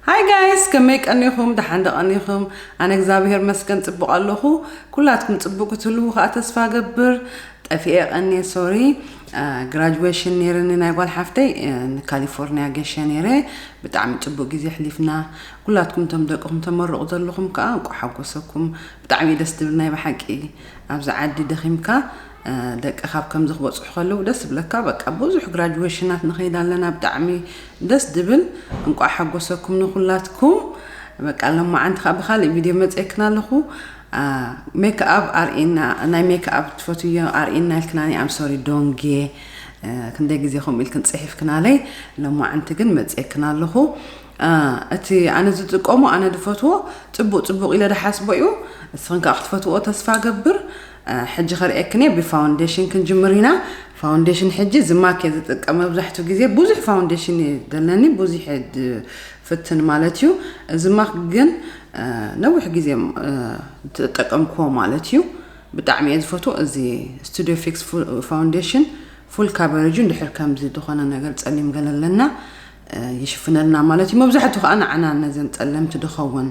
ሃይ ጋይስ ከመይ ቀኒኹም ደሓን ዶ ቀኒኹም ኣነ እግዛብሄር መስገን ጽቡቅ ኣለኹ ኩላትኩም ጽቡቅ ክትህልዉ ከኣ ተስፋ ገብር ጠፊኤ ቀኒየ ሶሪ ግራጁዌሽን ነይርኒ ናይ ጓል ሓፍተይ ንካሊፎርኒያ ገሸ ነይረ ብጣዕሚ ጽቡቅ ግዜ ሕሊፍና ኩላትኩም እቶም ደቅኹም ተመርቑ ዘለኹም ከኣ እንቋ ሓጎሰኩም ብጣዕሚ እዩ ደስ ትብል ናይ ብሓቂ ኣብዚ ዓዲ ደኺምካ ደቂ ካብ ከምዚ ክበጽሑ ከለዉ ደስ ብለካ በቃ ብዙሕ ግራጁዌሽናት ንኸይድ ኣለና ብጣዕሚ ደስ ድብል እንቋዕ ሓጎሰኩም ንኩላትኩም። በቃ ለማዓንቲ ከኣ ብካሊእ ቪድዮ መጽየክና ኣለኩ ሜክኣብ ኣርእና ናይ ሜክኣብ ትፈትዮ ኣርእና ኢልክናኒ ኣም ሶሪ ዶንጌ ክንደይ ግዜ ከምኡ ኢልክን ጽሒፍክናለይ ለማዓንቲ ግን መጽየክና ኣለኩ እቲ ኣነ ዝጥቀሞ ኣነ ዝፈትዎ ጽቡቅ ጽቡቅ ኢለ ድሓስቦ እዩ እስኽን ከዓ ክትፈትዎ ተስፋ ገብር ሕጂ ከርእየክንየ ብፋውንዴሽን ክንጅምር ኢና ፋውንዴሽን ሕጂ ዝማኬ ዝጥቀም መብዛሕቱ ግዜ ብዙሕ ፋውንዴሽን እዩ ዘለኒ ብዙሕ ፍትን ማለት እዩ እዚ ማክ ግን ነዊሕ ግዜ ተጠቀምክዎ ማለት እዩ ብጣዕሚ እየ ዝፈትዎ እዚ ስቱዲዮ ፊክስ ፋውንዴሽን ፉል ካቨሬጁ እንድሕር ከምዚ ዝኾነ ነገር ጸሊም ገለ ኣለና ይሽፍነልና ማለት እዩ መብዛሕቱ ከዓ ንዓና ነዘን ጸለምቲ ድኸውን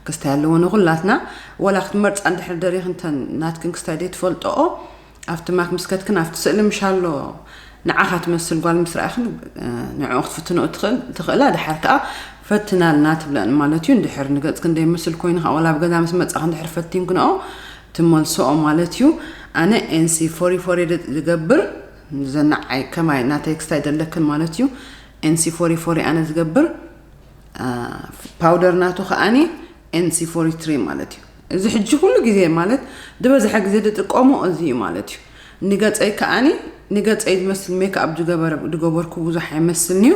ክስታይ ኣለዎ ንኹላትና ዋላ ክትመርጻ እንድሕር ደሪኽን ተን ናትክን ክስታይ ደይትፈልጠኦ ኣብቲ ማክ ምስ ከትክን ኣብቲ ስእሊ ምሻሎ ንዓኻ ትመስል ጓል ምስ ረኣኽን ንዕኡ ክትፍትንኦ ትኽእላ ድሓር ከዓ ፈትናልና ትብለን ማለት እዩ እንድሕር ንገጽክን ደይመስል ኮይኑ ከዓ ዋላ ኣብ ገዛ ምስ መጻኽ እንድሕር ፈቲንክንኦ ትመልስኦ ማለት እዩ ኣነ ኤንሲ ፎሪ ፎሪ ዝገብር ዘናዓይ ከማይ ናተይ ክስታይ ደለክን ማለት እዩ ኤንሲ ፎሪ ፎሪ ኣነ ዝገብር ፓውደር ናቱ ከዓኒ ኤንሲ ፎሪ ትሪ ማለት እዩ እዚ ሕጂ ኩሉ ግዜ ማለት ዝበዝሐ ግዜ ዝጥቀሞ እዚ እዩ ማለት እዩ ንገፀይ ከዓኒ ንገፀይ ዝመስል ሜክኣፕ ዝገበረ ዝገበርኩ ብዙሕ ኣይመስልንዩ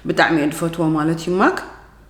ብጣዕሚ እየ ዝፈትዎ ማለት እዩ ማክ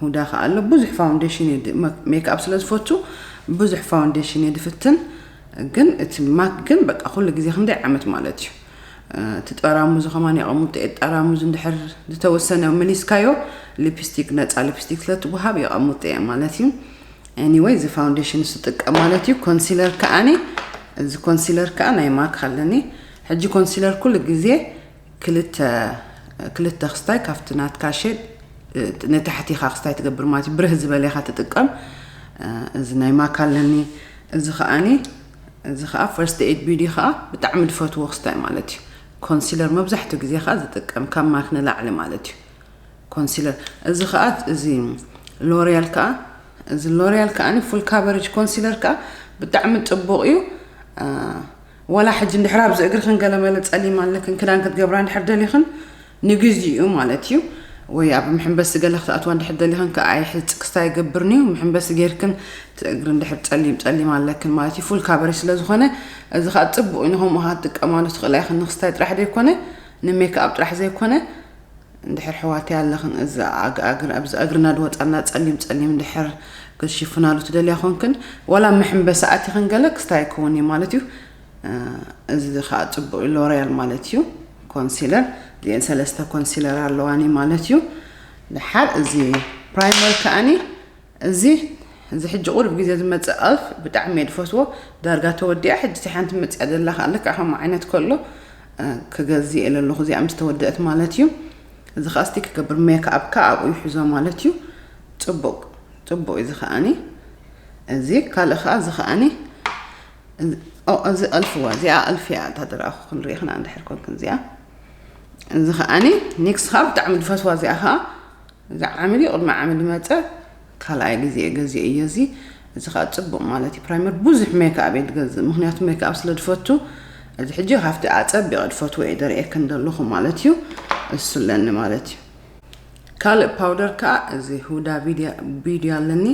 ሁዳ ከኣ ኣሎ ብዙሕ ፋውንዴሽን እየ ሜክኣፕ ስለ ዝፈቱ ብዙሕ ፋውንዴሽን እየ ድፍትን ግን እቲ ማክ ግን በቃ ኩሉ ግዜ ክንደይ ዓመት ማለት እዩ እቲ ጠራሙዙ ከማን የቐምጦ እየ ጠራሙዙ እንድሕር ዝተወሰነ መሊስካዮ ሊፕስቲክ ነፃ ሊፕስቲክ ስለትወሃብ የቐምጦ እየ ማለት እዩ ኤኒወይ እዚ ፋውንዴሽን ስጥቀም ማለት እዩ ኮንሲለር ከዓኒ እዚ ኮንሲለር ከዓ ናይ ማክ ኣለኒ ሕጂ ኮንሲለር ኩሉ ግዜ ክልተ ክልተ ክስታይ ካብቲ ናትካ ሼድ ንታሕቲ ኢኻ ክስታይ ትገብር ማለት እዩ ብርህ ዝበለ ኢኻ ትጥቀም እዚ ናይ ማካ ኣለኒ እዚ ከዓኒ እዚ ከዓ ፈርስት ኤድ ቢዲ ከዓ ብጣዕሚ ዝፈትዎ ክስታይ ማለት እዩ ኮንሲለር መብዛሕትኡ ግዜ ከዓ ዝጥቀም ካብ ማክ ንላዕሊ ማለት እዩ ኮንሲለር እዚ ከዓ እዚ ሎሪያል ከዓ እዚ ሎሪያል ከዓ ፉል ካቨሬጅ ኮንሲለር ከዓ ብጣዕሚ ፅቡቕ እዩ ዋላ ሕጂ እንድሕር ኣብዚ እግርኽን ገለመለ ጸሊም ኣለክን ክዳን ክትገብራ እንድሕር ደሊኽን ንግዚኡ ማለት እዩ ወይ ኣብ ምሕንበሲ ገለ ክትኣትዋ እንድሕር ደሊኽን ከኣ ኣይ ሕዚ ጽቅስታ ይገብርንዩ ምሕንበሲ ጌርክን እግሪ እንድሕር ጸሊም ጸሊም ኣለክን ማለት እዩ ፉል ካበሪ ስለ ዝኾነ እዚ ከኣ ጽቡቅ እዩ ንከምኡ ከኣ ትጥቀማሉ ትኽእላ ኢኽን ንክስታይ ጥራሕ ዘይኮነ ንሜክኣብ ጥራሕ ዘይኮነ እንድሕር ኣሕዋተይ ኣለኽን እዛ ኣግኣግን ኣብዚ ኣግርና ድወጻና ጸሊም ጸሊም እንድሕር ክትሽፍናሉ ትደልያ ኮንክን ዋላ ኣብ መሕምበሲ ኣቲኽን ገለ ክስታይ ኣይኮውን እዩ ማለት እዩ እዚ ከኣ ጽቡቅ እዩ ሎርያል ማለት እዩ ኮንሲለር እዚኤን ሰለስተ ኮንሲለር ኣለዋኒ ማለት እዩ ድሓር እዚ ፕራይመር ከኣኒ እዚ እዚ ሕጂ ቁሩብ ግዜ ዝመጽእ ኣፍ ብጣዕሚ እየ ዝፈትዎ ዳርጋ ተወዲኣ ሕጂ እታ ሓንቲ መጽያ ዘላ ከኣ ልክዕ ከምኡ ዓይነት ከሎ ክገዝእ እየ ለለኹ እዚኣ ምስ ተወደእት ማለት እዩ እዚ ከኣ እስቲ ክገብር ሜክ ኣብካ ኣብኡ ይሕዞ ማለት እዩ ጽቡቅ ጽቡቅ እዚ ከኣኒ እዚ ካልእ ከኣ እዚ ከኣኒ እዚ ኣልፍዋ እዚኣ ኣልፍያ እታ ድራኹ ክንሪኢ ክና እንድሕር ኮንክን እዚኣ እዚ ከኣኒ ኒክስ ከኣ ብጣዕሚ ዝፈትዋ እዚኣ ከኣ እዚ ዓሚ ድዩ ቅድሚ ዓሚ ድመጸ ካልኣይ ግዜ ገዚኤ እየ እዚ እዚ ከኣ ጽቡቅ ማለት እዩ ፕራይመር ቡዙሕ ሜክኣብ እየ ድገዝእ ምክንያቱ ሜክኣብ ስለ ድፈቱ እዚ ሕጂ ካብቲ ኣጸቢቀ ድፈትዎ እየ ደርኤክን ደለኩ ማለት እዩ እሱ ኣለኒ ማለት እዩ ካልእ ፓውደር ከኣ እዚ ሁዳ ቢዲ ኣለኒ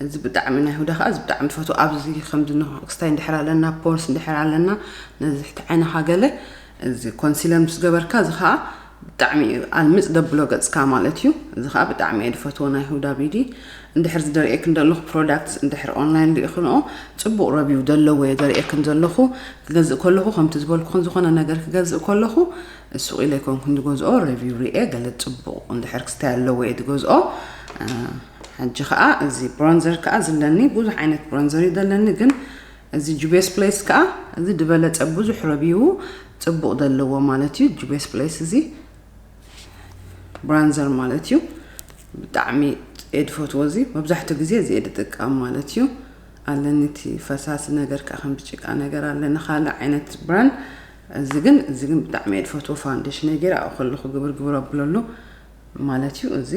እዚ ብጣዕሚ ናይ ሁዳ ከኣ እዚ ብጣዕሚ ድፈትዎ ኣብዚ ከምዚ ክስታይ እንድሕር ኣለና ፖርስ እንድሕር ኣለና ነዚ ትሕቲ ዓይንካ ገለ እዚ ኮንሲለር ምስ ገበርካ እዚ ከኣ ብጣዕሚ እዩ ኣልምጽ ደብሎ ገጽካ ማለት እዩ እዚ ከኣ ብጣዕሚ እየ ድፈትዎ ናይ ሁዳ ቢዲ እንድሕር ዝደርእየክን ዘለኹ ፕሮዳክትስ እንድሕር ኦንላይን ርኢኽንኦ ጽቡቕ ረቢው ዘለዎ እየ ዘርእየክን ዘለኹ ክገዝእ ከለኹ ከምቲ ዝበልኩኽን ዝኾነ ነገር ክገዝእ ከለኹ ሱቕ ኢለ ኣይኮንኩን ዝገዝኦ ረቪው ርኤ ገለ ጽቡቕ እንድሕር ክስታይ ኣለዎ እየ ዝገዝኦ ሕጂ ከዓ እዚ ብሮንዘር ከዓ ዝለኒ ብዙሕ ዓይነት ብሮንዘር እዩ ዘለኒ ግን እዚ ጁቤስ ፕሌስ ከኣ እዚ ድበለጸ ብዙሕ ረቢዉ ጽቡቕ ደለዎ ማለት እዩ ጁቤስ ፕሌስ እዚ ብራንዘር ማለት እዩ ብጣዕሚ እየ ድፈትዎ እዚ መብዛሕትኡ ግዜ እዚ እየ ድጥቀም ማለት እዩ ኣለኒ እቲ ፈሳሲ ነገር ከኣ ከምዚ ጭቃ ነገር ኣለኒ ካልእ ዓይነት ብራንድ እዚ ግን እዚ ግን ብጣዕሚ እየ ድፈትዎ ፋውንዴሽነይ ገይረ ኣብኡ ከለኹ ግብር ግብር ኣብለሉ ማለት እዩ እዚ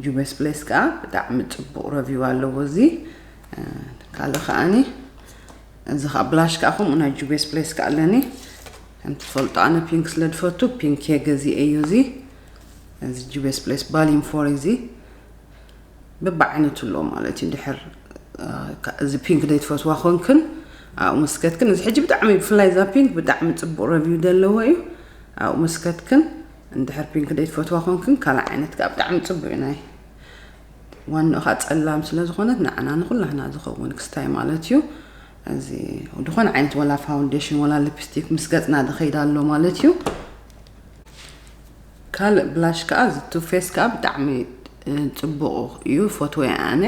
ጁቤስ ፕሌስ ከኣ ብጣዕሚ ጽቡቅ ረቪው ኣለዎ እዚ ካልእ ከኣኒ እዚ ከኣ ብላሽ ከኣ ከምኡ ናይ ጁቤስ ፕሌስ ከኣ ኣለኒ ከምቲ ትፈልጦ ኣነ ፒንክ ስለ ዝፈቱ ፒንክ እየ ገዚኤ እዩ እዚ እዚ ጁቤስ ፕሌስ ባሊን ፎር እዚ ብብዓይነቱ ኣለዎ ማለት እዩ ድሕር እዚ ፒንክ ዘይትፈትዋ ኮንክን ኣብኡ መስከትክን እዚ ሕጂ ብጣዕሚ ብፍላይ እዛ ፒንክ ብጣዕሚ ፅቡቅ ረቪው ዘለዎ እዩ ኣብኡ መስከትክን እንድሕር ፒንክ ደይ ትፈትዋ ኮንክን ካልእ ዓይነት ከኣ ብጣዕሚ ጽቡቅ እዩ ናይ ዋንኡ ከኣ ጸላም ስለ ዝኾነት ንዓና ንኹላህና ዝኸውን ክስታይ ማለት እዩ እዚ ዝኾነ ዓይነት ወላ ፋውንዴሽን ወላ ሊፕስቲክ ምስ ገጽና ዝኸይድ ኣሎ ማለት እዩ ካልእ ብላሽ ከኣ እዚ ቱፌስ ከኣ ብጣዕሚ ጽቡቅ እዩ ፎትወ ኣነ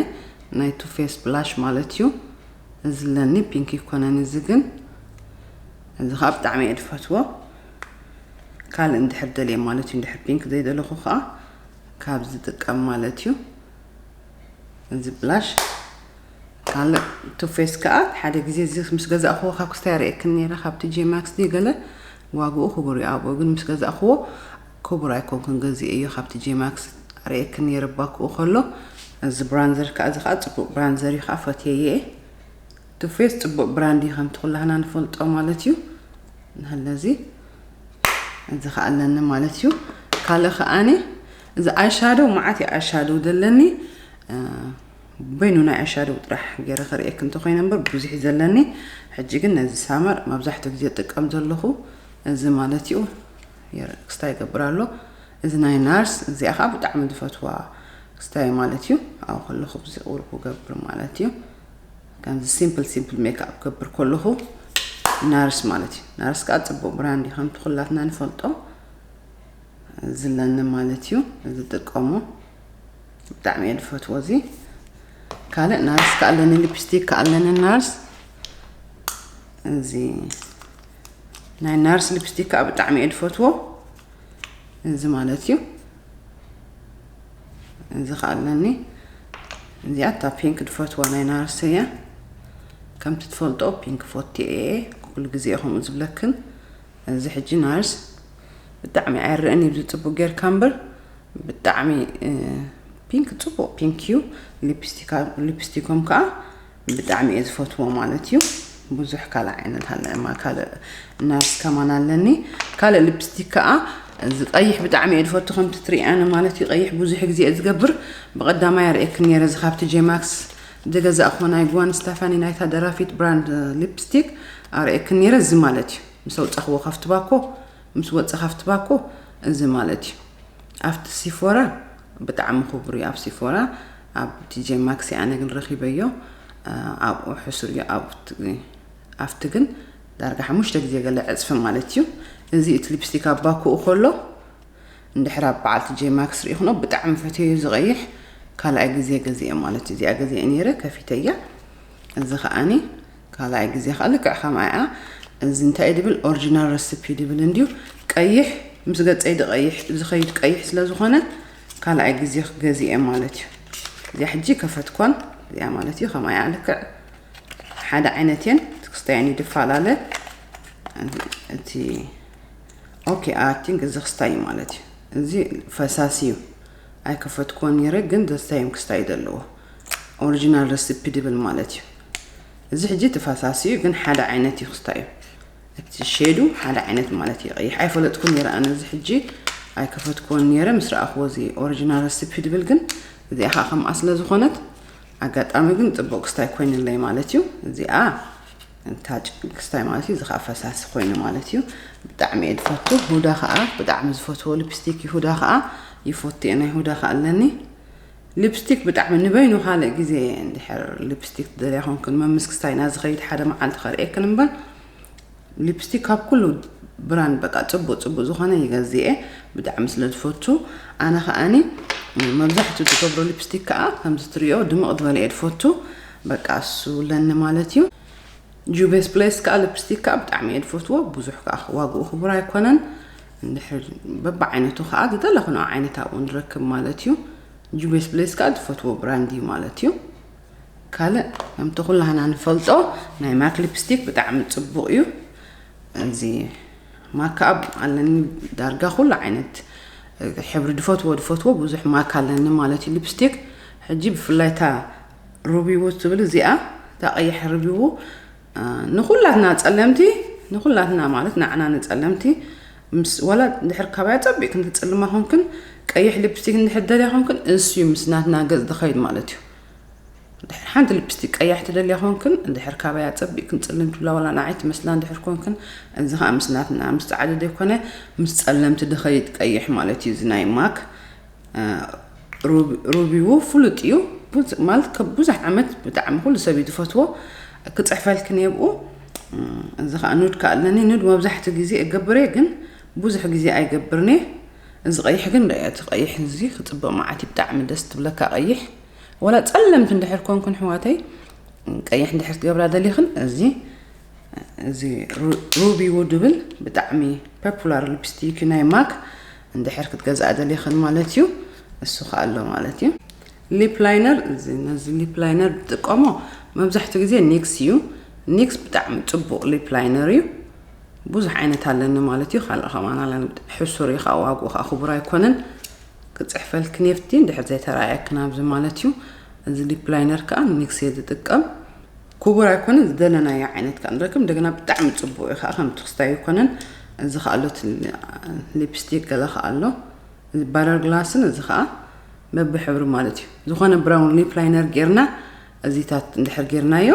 ናይ ቱፌስ ብላሽ ማለት እዩ እዚ ለኒ ፒንክ ይኮነን እዚ ግን እዚ ከዓ ብጣዕሚ እየ ዝፈትዎ ካልእ እንድሕር ደልየ ማለት እዩ እንድሕር ፒንክ ዘይደለኹ ከዓ ካብ ዝጥቀም ማለት እዩ እዚ ብላሽ ካልእ ቱፌስ ከዓ ሓደ ግዜ እዚ ምስ ገዛእኽዎ ካብ ክስታይ ርእየክን ነይረ ካብ ቲጄ ማክስ ድዩ ገለ ዋግኡ ክቡር እዩ ኣብኡ ግን ምስ ገዛእኽዎ ክቡር ኣይኮንኩን ገዚእ እዮ ካብ ቲጄ ማክስ ርእየክን ነይረ ባክኡ ከሎ እዚ ብራንዘር ከዓ እዚ ከዓ ፅቡቅ ብራንዘር እዩ ከዓ ፈትየየ ቱ ፌስ ጽቡቅ ብራንድ እዩ ከምቲ ኩላህና ንፈልጦ ማለት እዩ ንህለዚ እዚ ከኣ ኣለኒ ማለት እዩ ካልእ ከኣኒ እዚ ኣይሻዶው መዓት እዩ ኣይሻዶው ዘለኒ በይኑ ናይ ኣይሻዶው ጥራሕ ገይረ ክርእየክ እንተኮይነ እምበር ብዙሕ እዩ ዘለኒ ሕጂ ግን ነዚ ሳመር መብዛሕትኡ ግዜ ጥቀም ዘለኹ እዚ ማለት እዩ ክስታ ይገብር ኣሎ እዚ ናይ ናርስ እዚኣ ከዓ ብጣዕሚ ዝፈትዋ ክስታይ ማለት እዩ ኣብኡ ከለኹ ብዝቕውር ክገብር ማለት እዩ ከምዚ ሲምፕል ሲምፕል ሜክኣፕ ገብር ከለኹ ናርስ ማለት እዩ ናርስ ከዓ ፅቡቅ ብራንድ እዩ ከምቲ ኩላትና ንፈልጦ ዝለኒ ማለት እዩ ዝጥቀሞ ብጣዕሚ እየ ዝፈትዎ እዚ ካልእ ናርስ ከዓ ኣለኒ ሊፕስቲክ ከዓ ኣለኒ ናርስ እዚ ናይ ናርስ ሊፕስቲክ ከዓ ብጣዕሚ እየ ዝፈትዎ እዚ ማለት እዩ እዚ ከዓ ኣለኒ እዚኣ እታ ፒንክ ድፈትዋ ናይ ናርሰ እያ ከምቲ ትፈልጦ ፒንክ ፎቲ እየ ኩሉ ግዜ ከምኡ ዝብለክን እዚ ሕጂ ናርስ ብጣዕሚ ኣይርአን እዩ ዝፅቡቅ ጌርካ እምበር ብጣዕሚ ፒንክ ፅቡቅ ፒንክ እዩ ሊፕስቲኮም ከዓ ብጣዕሚ እየ ዝፈትዎ ማለት እዩ ብዙሕ ካልእ ዓይነት ኣለ እማ ካልእ ናርስ ከማን ኣለኒ ካልእ ሊፕስቲክ ከዓ እዚ ቀይሕ ብጣዕሚ እየ ዝፈቱ ከምቲ ትሪኣኒ ማለት እዩ ቀይሕ ብዙሕ ግዜ እየ ዝገብር ብቐዳማይ ኣርእየኪ ነይረ እዚ ካብቲ ጄማክስ ዝገዛእኹዎ ናይ ጓን ስታፋኒ ናይታ ደራፊት ብራንድ ሊፕስቲክ ኣርእየኪ ነይረ እዚ ማለት እዩ ምስ ኣውፃኽዎ ካብቲ ባኮ ምስ ወፀ ካብቲ ባኮ እዚ ማለት እዩ ኣብቲ ሲፎራ ብጣዕሚ ክቡር እዩ ኣብ ሲፎራ ኣብ ዲጄ ማክሲ ኣነ ግን ረኪበዮ ኣብኡ ሕሱር እዩ ኣብቲ ግን ዳርጋ ሓሙሽተ ግዜ ገለ ዕፅፊ ማለት እዩ እዚ እቲ ሊፕስቲክ ኣብ ባኩኡ ከሎ እንድሕር ኣብ በዓልቲ ጄ ማክስ ርኢክኖ ብጣዕሚ ፈትየዩ ዝቐይሕ ካልኣይ ግዜ ገዚአ ማለት እዩ እዚኣ ገዚአ ነይረ ከፊተያ እዚ ከዓኒ ካልኣይ ግዜ ከኣ ልክዕ ከምኣ ኢያ እዚ እንታይ ኢዩ ድብል ኦርጂናል ረሲፒ ድብል እንድዩ ቀይሕ ምስ ገጸይ ድቀይሕ ዝኸይድ ቀይሕ ስለ ዝኾነ ካልኣይ ግዜ ገዚኤ ማለት ኢዩ እዚኣ ሕጂ ከፈትኳን እዚኣ ማለት እዩ ከምኣ እያ ልክዕ ሓደ ዓይነት እየን ክስታየን ይድፋላለ እቲ ኦኬ ኣቲንግ እዚ ክስታይ እዩ ማለት እዩ እዚ ፈሳሲ እዩ ኣይከፈትኮን ነይረ ግን ዘስታይም ክስታይ ዘለዎ ኦሪጂናል ረሲፒ ድብል ማለት እዩ እዚ ሕጂ ተፋሳሲ እዩ ግን ሓደ ዓይነት እዩ ክስታ እዩ እቲ ሸዱ ሓደ ዓይነት ማለት እዩ ቀይሕ ኣይፈለጥኩ ነረ ኣነ እዚ ሕጂ ኣይከፈትኩዎን ነረ ምስ ረኣኽዎ እዚ ኦሪጂናል ረሲፒ ድብል ግን እዚኣ ከዓ ከምኣ ስለ ዝኾነት ኣጋጣሚ ግን ፅቡቅ ክስታይ ኮይኑለይ ማለት እዩ እዚኣ እንታ ክስታይ ማለት እዩ እዚ ከዓ ፈሳሲ ኮይኑ ማለት እዩ ብጣዕሚ እየ ዝፈቱ ሁዳ ከዓ ብጣዕሚ ዝፈትዎ ልፕስቲክ ይሁዳ ከዓ ይፎቱ እየ ናይ ሁዳ ከዓ ኣለኒ ሊፕስቲክ ብጣዕሚ ንበይኑ ካልእ ግዜ እንድሕር ሊፕስቲክ ትደልያ ኮንክን መምስ ክስታይና ዝኸይድ ሓደ መዓልቲ ከርእየክን እምበር ሊፕስቲክ ካብ ኩሉ ብራንድ በቃ ጽቡቅ ጽቡቅ ዝኾነ ይገዝእ እየ ብጣዕሚ ስለ ዝፈቱ ኣነ ከዓኒ መብዛሕትኡ ዝገብሮ ሊፕስቲክ ከዓ ከምዚ ትሪኦ ድምቅ ዝበለ እየ ዝፈቱ በቃ እሱ ለኒ ማለት እዩ ጁቬስ ብሌስ ከኣ ልፕስቲክ ከኣ ብጣዕሚ እየ ዝፈትዎ ብዙሕ ከኣ ዋግኡ ክቡር ኣይኮነን እንድሕር በብዓይነቱ ከኣ ዝደለኽንኦ ዓይነት ኣብኡ ንረክብ ማለት እዩ ጁቬስ ብሌስ ከኣ ዝፈትዎ ብራንድ እዩ ማለት እዩ ካልእ ከምቲ ኩላህና ንፈልጦ ናይ ማክ ሊፕስቲክ ብጣዕሚ ፅቡቕ እዩ እዚ ማካኣብ ኣለኒ ዳርጋ ኩሉ ዓይነት ሕብሪ ድፈትዎ ድፈትዎ ብዙሕ ማካ ኣለኒ ማለት እዩ ሊፕስቲክ ሕጂ ብፍላይ እታ ርብው ትብል እዚኣ እታ ቀያሕ ርብው ንኩላትና ጸለምቲ ንኩላትና ማለት ንዓና ንጸለምቲ ምስ ወላ ድሕር ካባያ ጸቢቅ ክንትጽልማ ኮንክን ቀይሕ ሊፕስቲክ እንድሕር ደልያ ኮንክን እንስዩ ምስ ናትና ገጽ ዝኸይድ ማለት እዩ ድሕር ሓንቲ ልፕስቲክ ቀያሕ ትደልያ ኮንክን ድሕር ካባያ ጸቢቅ ክንጽልም ትብላ ወላ ንዓይ ትመስላ ድሕር ኮንክን እዚ ከዓ ምስ ናትና ምስ ጻዕዲ ዘይኮነ ምስ ጸለምቲ ድኸይድ ቀይሕ ማለት እዩ እዚ ናይ ማክ ሩቢዉ ፍሉጥ እዩ ማለት ከብ ብዙሕ ዓመት ብጣዕሚ ኩሉ ሰብ እዩ ዝፈትዎ ክፅሕፈልኪ ነብኡ እዚ ከዓ ኑድ ከዓ ኣለኒ ኑድ መብዛሕትኡ ግዜ እገብር እየ ግን ብዙሕ ግዜ ኣይገብርን እየ እዚ ቀይሕ ግን ዶ እቲ ቀይሕ እዚ ክፅብቕ መዓት እዩ ብጣዕሚ ደስ ትብለካ ቀይሕ ወላ ፀለምቲ እንድሕር ኮንኩን ሕዋተይ ቀይሕ እንድሕር ትገብራ ደሊኽን እዚ እዚ ሩቢ ውድብል ብጣዕሚ ፐፑላር ሊፕስቲክ ናይ ማክ እንድሕር ክትገዝኣ ደሊኽን ማለት እዩ እሱ ከ ኣሎ ማለት እዩ ሊፕ ላይነር ነዚ ሊፕ ላይነር ዝጥቀሞ መብዛሕትኡ ግዜ ኒክስ እዩ ኒክስ ብጣዕሚ ፅቡቕ ሊፕ ላይነር እዩ ብዙሕ ዓይነት ኣለኒ ማለት እዩ ካልእ ከማን ኣለ ሕሱር እዩ ከዓ ዋግኡ ከዓ ክቡር ኣይኮነን ክፅሕፈልክ ኔፍቲ እንድሕር ዘይተረኣየክን ኣብዚ ማለት እዩ እዚ ሊፕ ላይነር ከዓ ኒክስ እየ ዝጥቀም ኩቡር ኣይኮነን ዝደለናዮ ዓይነት ከኣ ንረክብ እንደገና ብጣዕሚ ጽቡቅ እዩ ከኣ ከምቲ ክስታይ ኣይኮነን እዚ ከኣ ኣሎ እቲ ሊፕስቲክ ገለ ከኣ ኣሎ እዚ ባረር ግላስን እዚ ከኣ በብሕብሪ ማለት እዩ ዝኾነ ብራውን ሊፕ ላይነር ጌርና እዚታት እንድሕር ጌርናዮ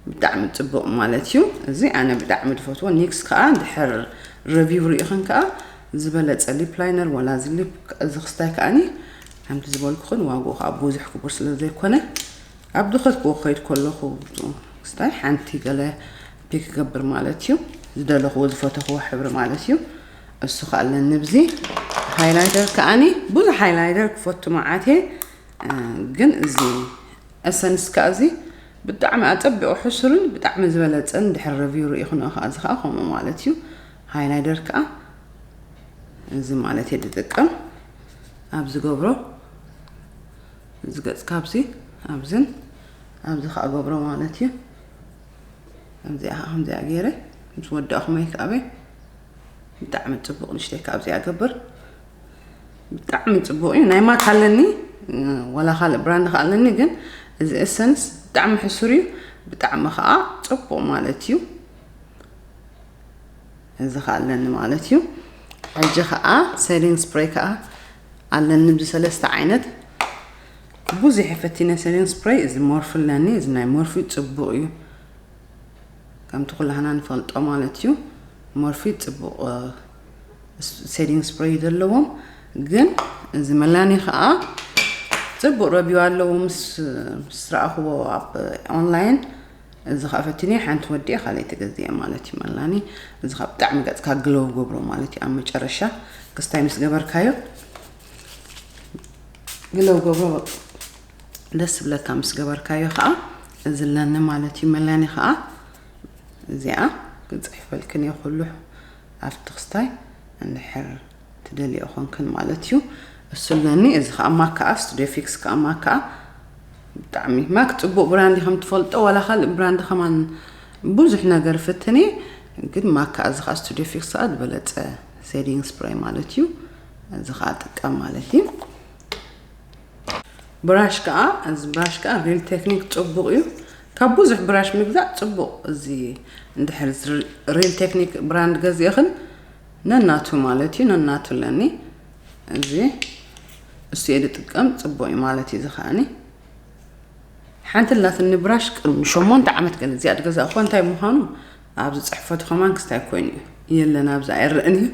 ብጣዕሚ ጽቡቅ ማለት እዩ እዚ ኣነ ብጣዕሚ ዝፈትዎ ኒክስ ከኣ ድሕር ረቪው ርኢኽን ከኣ ዝበለጸ ሊፕ ላይነር ወላ እዚ ሊፕ እዚ ክስታይ ከኣኒ ከምቲ ዝበልኩኽን ዋግኡ ከዓ ብዙሕ ክቡር ስለ ዘይኮነ ኣብ ዝኸድክዎ ክኸይድ ከለኹ ስታይ ሓንቲ ገለ ፒክ ክገብር ማለት እዩ ዝደለኽዎ ዝፈተኽዎ ሕብሪ ማለት እዩ እሱ ከዓ ኣለኒ ብዚ ሃይላይደር ከዓኒ ብዙሕ ሃይላይደር ክፈቱ መዓት እየ ግን እዚ እሰንስ ከዓ እዚ ብጣዕሚ ኣፀቢቑ ሕሱርን ብጣዕሚ ዝበለፀን ድሕሪ ረቪው ርኢኹንኦ ከዓ እዚ ከዓ ከምኡ ማለት እዩ ሃይላይደር ከዓ እዚ ማለት እየ ዝጥቀም ኣብ ዝገብሮ እዚ ገጽ ካብዚ ኣብዝን ኣብዚ ከዓ ገብሮ ማለት እዩ ከምዚኣ ከዓ ከምዚኣ ገይረ ምስ ወዳእኹ መይክኣበይ ብጣዕሚ ፅቡቕ ንሽተይ ካብዚኣ ገብር ብጣዕሚ ፅቡቕ እዩ ናይ ማት ኣለኒ ወላ ካልእ ብራንድ ከዓ ኣለኒ ግን እዚ ኤሰንስ ብጣዕሚ ሕሱር እዩ ብጣዕሚ ከዓ ፅቡቕ ማለት እዩ እዚ ከዓ ኣለኒ ማለት እዩ ሕጂ ከዓ ሴሊንግ ስፕሬይ ከዓ ኣለኒ ብሰለስተ ዓይነት ብዙሕ ፈቲነ ሰሪን ስፕረይ እዚ ሞርፊ ኣለኒ እዚ ናይ ሞርፊ ፅቡቅ እዩ ከምቲ ኩላህና ንፈልጦ ማለት እዩ ሞርፊ ፅቡቅ ሴዲንግ ስፕረይ ዘለዎም ግን እዚ መላኒ ከዓ ፅቡቅ ረቢዩ ኣለዎ ምስ ረኣኽዎ ኣብ ኦንላይን እዚ ከኣ ፈትንየ ሓንቲ ወድየ ካልኣይ ተገዝየ ማለት እዩ መላኒ እዚ ከኣ ብጣዕሚ ገጽካ ግለው ገብሮ ማለት እዩ ኣብ መጨረሻ ክስታይ ምስ ገበርካዮ ግለው ገብሮ ደስ ዝብለካ ምስ ገበርካዮ ከዓ እዚ ኣለኒ ማለት እዩ መላኒ ከዓ እዚኣ ክፅሕፈልክን እየ ኩሉ ኣብቲ ክስታይ እንድሕር ትደልይኦ ኮንክን ማለት እዩ እሱ ኣለኒ እዚ ከዓ ማክ ከዓ ስቱዲዮ ፊክስ ከዓ ማክ ከዓ ብጣዕሚ ማክ ፅቡቅ ብራንድ ከም ትፈልጦ ዋላ ካልእ ብራንድ ከማን ብዙሕ ነገር ፍትን እየ ግን ማክ ከዓ እዚ ከዓ ስቱዲዮ ፊክስ ከዓ ዝበለፀ ሴዲንግ ስፕራይ ማለት እዩ እዚ ከዓ ጥቀም ማለት እዩ ብራሽ ከዓ እዚ ብራሽ ከዓ ሪል ቴክኒክ ፅቡቅ እዩ ካብ ብዙሕ ብራሽ ምግዛእ ፅቡቅ እዚ እንድሕር ሪል ቴክኒክ ብራንድ ገዚእኽን ነናቱ ማለት እዩ ነናቱ ኣለኒ እዚ እሱ እየ ዝጥቀም ፅቡቅ እዩ ማለት እዩ እዚ ከዓኒ ሓንቲ ላትኒ ብራሽ ቅድሚ ሸሞንተ ዓመት ገለ እዚኣ ድገዛእኳ እንታይ ምዃኑ ኣብዚ ፅሕፈቱ ከማን ክስታይ ኮይኑ እዩ የለን ኣብዚ ኣይረእን እዩ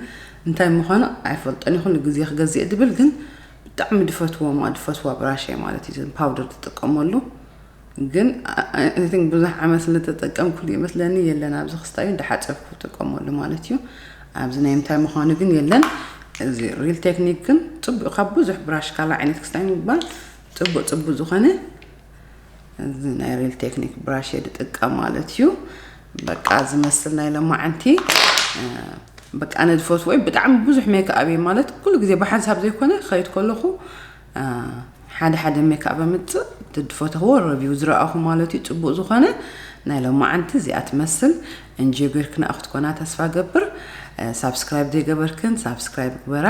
እንታይ ምዃኑ ኣይፈልጦን ይኹን ግዜ ክገዝእ ድብል ግን ብጣዕሚ ድፈትዎ ማ ድፈትዋ ብራሸ ማለት እዩ ፓውደር ትጥቀመሉ ግን ኣይ ቲንክ ብዙሕ ዓመት ስለ ተጠቀምኩሉ ይመስለኒ የለን ኣብዚ ክስታዩ እንዳሓፀብኩ ክጥቀመሉ ማለት እዩ ኣብዚ ናይ ምንታይ ምዃኑ ግን የለን እዚ ሪል ቴክኒክ ግን ፅቡቅ ካብ ብዙሕ ብራሽ ካላ ዓይነት ክስታይ ምባል ፅቡቅ ፅቡቅ ዝኾነ እዚ ናይ ሪል ቴክኒክ ብራሽ እየ ዝጥቀም ማለት እዩ በቃ ዝመስል ናይ ለማዓንቲ በቃ ነዚ ፈትዎ ብጣዕሚ ብዙሕ ሜክኣብ ማለት ኩሉ ግዜ ብሓንሳብ ዘይኮነ ክኸይድ ከለኹ ሓደ ሓደ ሜክኣብ ኣምጽእ ድድፈተኽዎ ረቪው ዝረኣኹ ማለትዩ ጽቡቅ ዝኾነ ናይ ሎማዓንቲ እዚኣ ትመስል እንጆ ገርክንኣ ክትኮና ተስፋ ገብር ሳብስክራይብ ዘይገበርክን ሳብስክራይብ ግበራ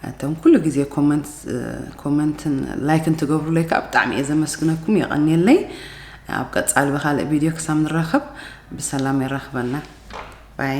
እቶም ኩሉ ግዜ ኮመንትን ላይክን ትገብሩለይ ከዓ ብጣዕሚ እየ ዘመስግነኩም የቐንየለይ ኣብ ቀፃሊ ብካልእ ቪድዮ ክሳብ ንራኸብ ብሰላም የራኽበና ባይ